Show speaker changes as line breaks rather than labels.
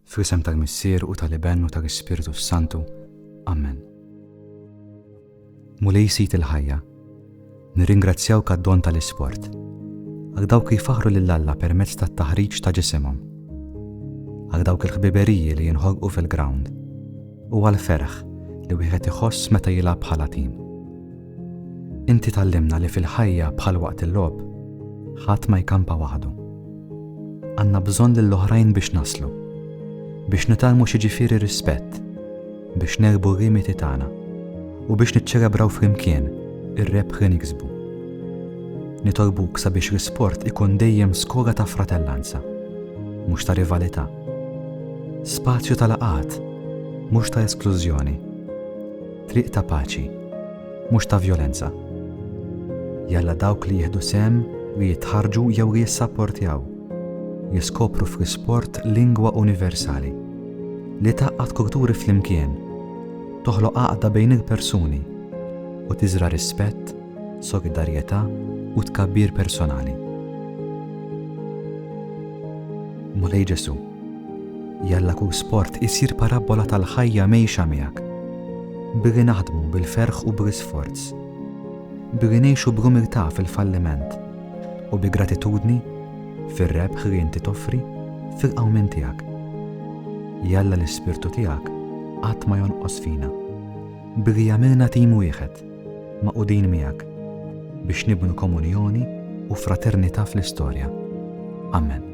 Fl-isem tal-Missier u tal-Iben u tal-Ispirtu s-Santu. Amen. Mulej Sid il-ħajja, nirringrazzjawk għad-don tal-isport, għal dawk li jfaħħru lil Alla permezz tat-taħriġ ta' ġisimhom, għal dawk il-ħbiberiji li jinħolqu fil-grawnd, u għall-ferħ li wieħed iħoss meta jilgħab bħala tim. Inti tgħallimna li fil-ħajja bħal waqt il-logħob, ħadd ma jkampa waħdu. Għandna bżonn lill-oħrajn biex naslu, biex nitgħallmu x'jiġifieri rispett, biex nerbhu r-rimiti tagħna u biex niċċelebraw flimkien ir-rebħ li niksbu. Nitolbuk sabiex l-isport ikun dejjem skola ta' fratellanza, mhux ta' rivalità. Spazju ta' laqat, mhux ta' esklużjoni. Triq ta' paċi, mhux ta' vjolenza. Jalla dawk li jieħdu sehem, li jitħarrġu jew li jissapportjaw, jiskopru fl-isport lingwa universali, li tgħaqqad kulturi flimkien, toħloq għaqda bejn il-persuni, u tiżra' rispett, solidarjetà u tkabbir personali. Mulej Ġesù. Jalla kull sport isir parabbola tal-ħajja mgħejxa miegħek. Billi naħdmu bil-ferħ u bl sforz. Billi ngħixu bl-umiltà fil-falliment u bi gratitudni fir-rebħ li inti toffri fil-qawmien tiegħek. Jalla l-ispirtu tiegħek qatt ma jonqos fina. Billi jagħmilna tim wieħed. magħqudin miegħek biex nibnu komunjoni u fraternità fl-istorja. Amen.